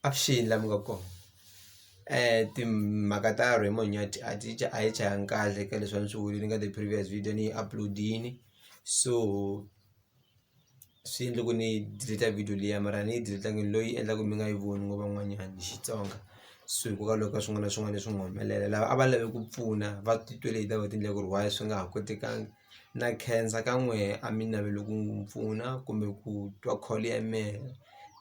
Avuxeni laha mi nga kona timhaka ta Raymond Nyathi a ti a hi chayanga kahle ka leswi a ni swi vulile ka the previous video ni yi upload-ini so swi endle ku ni delete video liya mara a ni yi delete-angi loyi yi endla ku mi nga yi voni ngo van'wanyani hi Xitsonga so hikokwalaho ka swin'wana na swin'wana leswi nga humelela lava a va lave ku pfuna va titwele hi ta va tindlela ku ri why swi nga ha kotekangi. na khensa ka n'we a mi naveli ku n'wi pfuna kumbe ku twa call ya mehe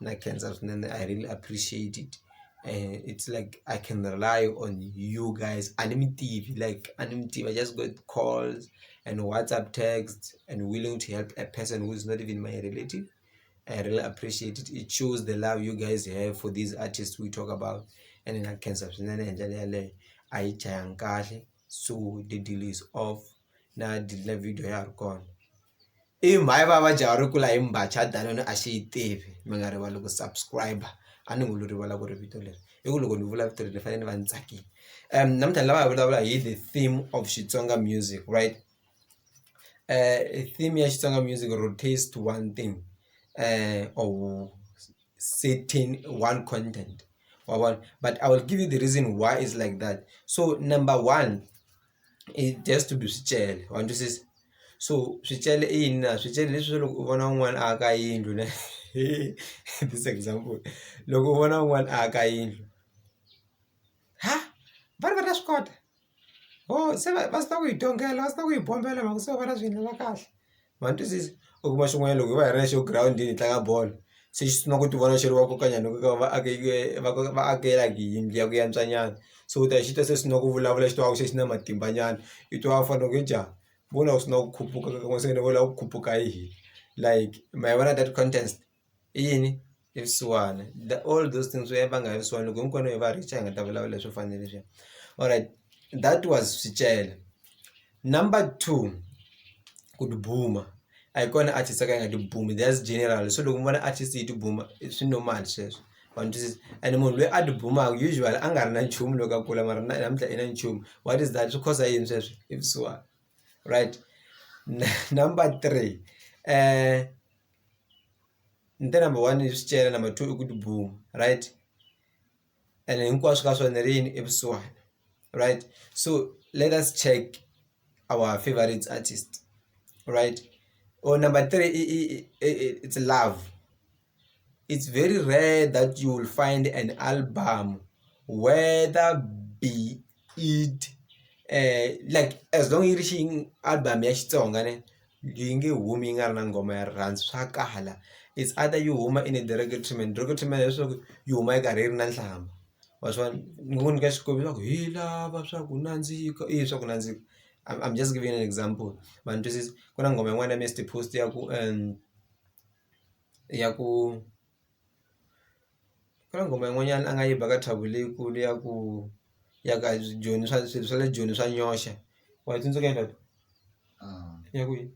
na khensa swinene I really appreciate it it's like I can rely on you guys a ni mi tivi like a ni mi tivi I just got calls and WhatsApp text and willing to help a person who is not even my relative I really appreciate it it shows the love you guys have for these artists we talk about ene na khensa swinene hi ndlela yaleyo a yi jahanga kahle so the deal is off. na delete na video ya ha ri kona i mhani va va jaha ri kula hi mbhaca danone a xi yi tivi mi nga rivali ku subscribe a ni ngo lo rivala ku ri vito leri i ku loko ni vula vito leri ni fanele ni va ni tsakile namuntlha ni lava hi vulavula hi the theme of Xitsonga music right theme ya Xitsonga music or taste one thing or certain one content wa vona but I will give you the reason why is like that so number one i just to be swicele wa twisisa so swicele i yini na swicele leswi swa loko u vona un'wana a aka yindlu ne this example loko u vona un'wana a aka yindlu ha va ri va ta swi kota ho se va va swi tiva ku yi tongela va swi tiva ku yi bombela mhaka se va na swi endlela kahle. ma ni twisisa u kuma xin'wanyana loko hi va hi ri na xo girawundini hi tlanga bolo se xi sungula ku ti vona xi ri va koka nyana ku va vaakela yindlu ya ku yantswa nyana so u ta xi ta se swi sungula ku vulavula xi tivaka se xi na matimba nyana i twa ku fanele ku i njhani vona u sungula ku khuphuka se ni vona ku khuphuka hi hina like ma yi vona that contest. i yini i vusiwana the all those things va nga ya vusiwana loko hinkwenu hi va rich hi nga ta vulavula leswi fanele leswi alright that was Swicelwa number two ku tibuma a hi kona artist a ka a nga tibumi that's general so loko mi vona artist yi tibuma swi normal sweswo wa ni twisisa ene munhu loyi a tibumaka usually a nga ri na nchumu loko a kula mara namuntlha i na nchumu what is that swi cause yini sweswo i vusiwana right number three . ni te number one swi cela number two i ku tibomu right ene hinkwaswo ka swona ri yini i vusiwana right so let us check our favourite artist right or number three i i i i it's love it's very rare that you will find an album whether be. it um like as long yi ri xi album ya Xitsonga ne yi nge humi yi nga ri na nghoma ya rirhandzu swa kala it's either yi huma in a treatment treatment hileswaku yi huma yi karhi yi ri na nhlamba wa swi vona ni ngo ku nyika xikombiso swa ku hi lava swa ku nandzika i yini swa ku nandzika I am just giving an example ma ni twisisa ku na nghoma yin'wana ya Mister Post ya ku ya ku. Ku na nghoma yin'wanyana a nga yi ba ka Thabo leyikulu ya ku ya ka Joni swa swilo swa le Joni swa nyoxa wa yi tsundzuka yini tata ya kwihi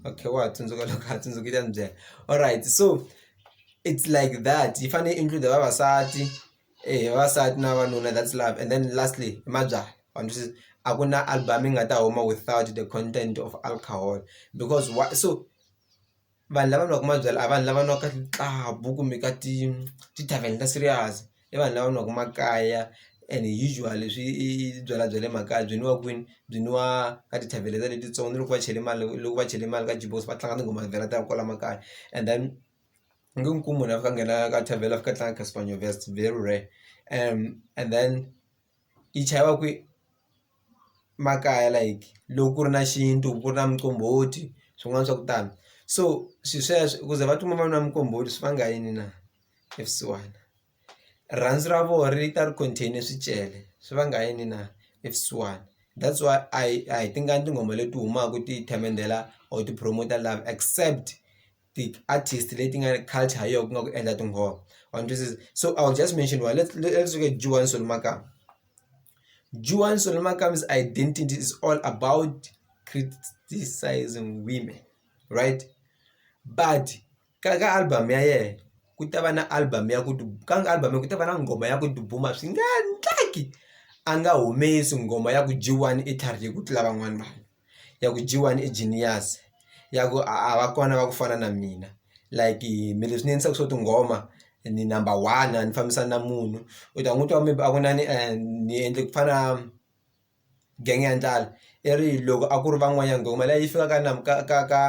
okay wa ha tsundzuka loko a tsundzuka u ta ni byela alright so it's like that yi fanele yi include vavasati. eya vavasati na vavanuna that's love and then lastly i mabyalwa ma ni twisisa a ku na album yi nga ta huma without the content of alcohol because why so vanhu lava nwaka mabyalwa a vanhu lava nwaka club kumbe ka ti ti-tarven ta serious i vanhu lava nwaka makaya and usually swi i byalwa bya le makaya byi nwiwa kwini byi nwiwa ka ti-tarven letiya letitsongo ni loko va chele mali loko va chele mali ka va tlanga tinghoma vhela ta kwala makaya and then. ni nge n'wi kumi munhu a fika a nghena ka tavern a fika a tlanga Casper Nyovest it's very rare and then yi chayiwa kwi makaya like loko ku ri na xintu ku ri na muqombhoti swin'wana swa ku tani so swi sweswo ku ze va tikuma va nwa muqombhoti swi vanga yini na i vusiwana rirhandzu ra vona ri ta ri contain swicele swi vanga yini na i vusiwana that's why a hi a hi tingani tinghoma leti humaka ti themendela or ti-promoter love except. ti-artist leti nga culture ha yona ku nga ku endla tinghoma wa ni twisisa so I will just mention one let's let's look at Juwani Solomakaya, Juwani Solomakaya identity is all about criticism women right but ka ka album ya yena ku ta va na album ya ku ka album ku ta va na nghoma ya ku dubuma swi nga endleki a nga humesi nghoma ya ku Juwani i tlharihe ku tlula van'wana vanhu. ya ku G_one i genius ya ku a va kona va ku fana na mina like me leswi ni endlisaku swo tinghoma ni number one a ni fambisani na munhu u ta n'wi twa maybe a ku inani ni endle ku fana gang ya ndlala i ri loko a ku ri van'wanyana nghoma leyi yi fika ka ka ka ka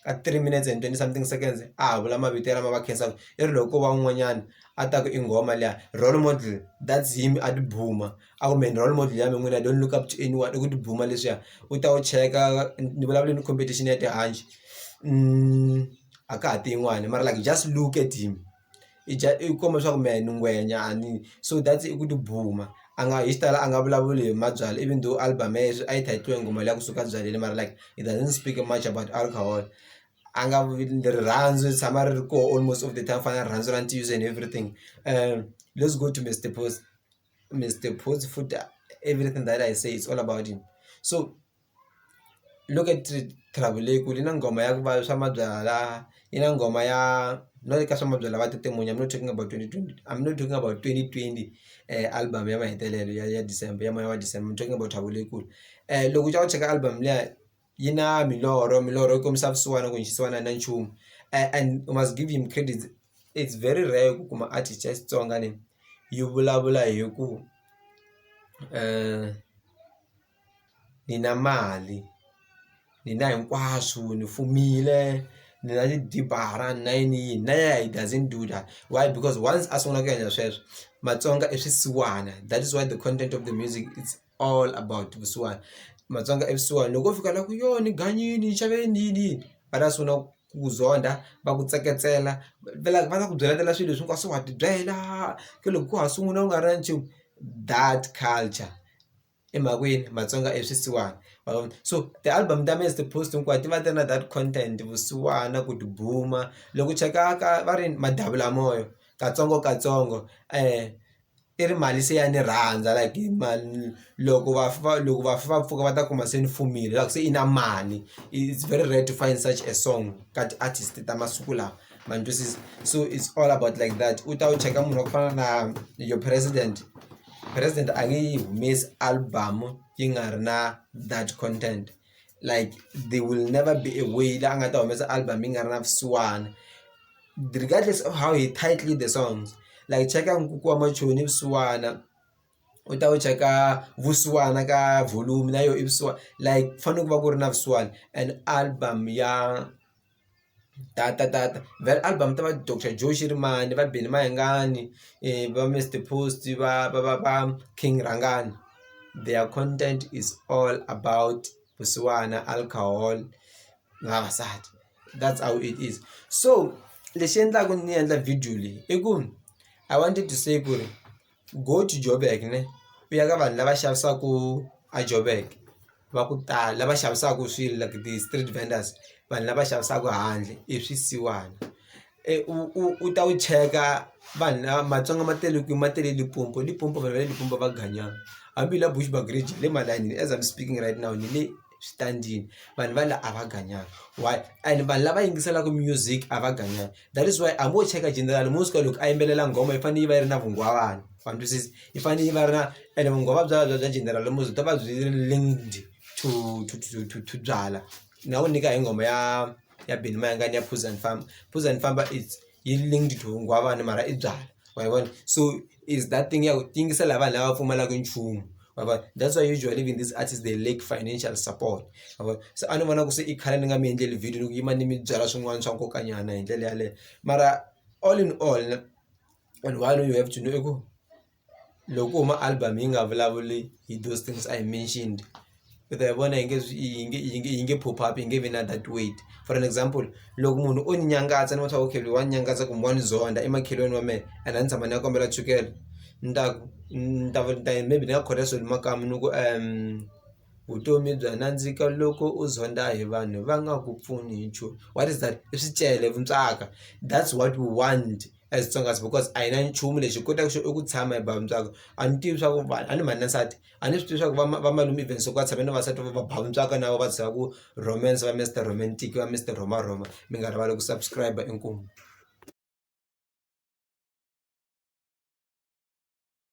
ka three minutes and twenty something seconds a ha vula mavito lama va khenseka i ri loko ko va un'wanyana a ta ku i nghoma liya role model that's him a ti . a ku mehe ni role model ya mina n'wina don't look up to anyone i ku tibuma leswiya u ta wu cheka ni vulavule ni competition ya tihanci a ka ha tin'wani mara like just look at him i dya i kuma leswaku mehe ni ngwenya a ni so that's i ku tibuma a nga hi xitalo a nga vulavuli hi mabyalwa even though album ya yena a yi title-we hi nghoma liya kusuka ebyaleni mara like it doesn't speak much about alcohol a nga rirhandzu ri tshama ri ri koho almost all the time ku fana na rirhandzu ra ntiyiso and everything lets go to Mister Post. Mister Phozi futhi everything that I say it's all about him so look at Thabo Lekule i na nghoma ya ku va swa mabyalwa i na nghoma ya no le ka swa mabyalwa va tete munyu I'm not talking about twenty twenty I'm not talking about twenty twenty album ya mahetelelo ya ya December ya moya wa December I'm talking about Thabo Lekule loko u ya u cheka album liya. yi na milorho milorho yi kombisa vusiwana ku xisiwana a yi na nchumu and u must give him credit it's very rare ku kuma artist ya Xitsonga leyi yi vulavula hi ku ni na mali ni na hinkwaswo ni fumile ni na tibara ni na yini yini na yena he doesn't do that why because once a sungula ku endla sweswo Matsonga i swisiwana that is why the content of the music is. all about vusiwana matsonga i vusiwana loko wo fika la ku yo ni ganyini ni xave yini ni yini ni yini va ta sungula ku ku zonda va ku tseketsela va la va la ku byeletela swilo leswi hinkwaswo wa tibyela ke loko ko ha sungula u nga ri na nchumu that culture emakwenu matsonga i swisiwana ma vona so ti-album ta mina as ti-post hinkwato ti va ti ri na that content vusiwana ku tibuma loko u cheka ka va ri madavulamona katsongokatsongo . i ri mali se ya ni rhandza like hi mali loko va fa loko vafi va pfuka va ta kuma se ni fumile la ku se i na mali it's very rare to find such a song ka ti-artist ta masiku lawa ma ni twisisa so it's all about like that u ta wu cheka munhu wa ku fana na your president president a nge yi humesi album yi nga ri na that content. like they will never be a way la a nga ta humesa album yi nga ri na vusiwana regardless of how he tightly the songs like cheka nkuku wa machoni i vusiwana u ta wu cheka vusiwana ka volume na yo i vusiwana like ku fanele ku va ku ri na vusiwana and album ya. data data va ri album ta va doctor Joe xirimani va Benny mayengani va Mister Post va va va va King rhangani their content is all about vusiwana alcohol na vavasati that's how it is so lexi endlaku ni endla video leyi i ku I wanted to say ku ri. go to joburg ne u ya ka vanhu lava xavisaka a joburg va ku tala lava xavisaka swilo like the street vendors vanhu lava xavisaka handle i swisiwana u u u ta wu cheka vanhu lava matsonga ma tele kwini ma tele Limpopo Limpopo vanhu va le Limpopo va ganyana hambi hi la Bushbuckridge hi le malayinini as am speaking right now ni le. swi ta ndlini vanhu va la a va ganyanga why and vanhu lava yingiselaka music a va ganyanga that is why a vo cheka general mo suka loko a yimbelela nghoma yi fanele yi va yi ri na vunghwavana wa twisisa yi fanele yi va ri na ene vunghwava bya bya bya general mo byi ta va byi linked to to to to to byala na wu nyika hi nghoma ya ya Benny Mayengani ya Phuza Ni Famba Phuza Ni Famba it's yi linked to vukungundzwani mara i byalwa ma yi vona so is that thing ya ku ti yingisela hi vanhu lava pfumalaka nchumu ma yi vona that's why usually even this artist they lack financial support ma yi vona se a ni vona ku se i khale ni nga mi endleli video ni ku yima ni mi byela swin'wana swa nkoka nyana hi ndlela yaleyo mara all in all and one you have to know i ku. loko u kuma album yi nga vulavuli hi those things I mentioned u ta yi vona yi nge yi nge yi nge yi nge pop up yi nge vi na that weight for an example loko munhu o ni nyangatsa ni vona swa ku okay loyi wa ni nyangatsa kumbe wa ni zonda i makhelwani wa mehe and a ni tshama ni ya kombela chukele ni ta ku ni ta ni ta ya maybe ni nga khonela swilo makaya ni ku vutomi bya nandzika loko u zonda hi vanhu va nga ku pfuni hi nchumu what is that i swicele vuntswaka that's what we want. as Tsongas because a hi na nchumu lexi hi kotaka xo i ku tshama hi ba mutswako a ni tivi swa ku vanhu a ni mhani na nsati a ni swi tivi swa ku va ma va malume even so ku a tshame na vavasati va va ba mutswako na vona va byela ku romance va Mister romantic va Mister rhoma rhoma mi nga rivali ku subscribe inkomu.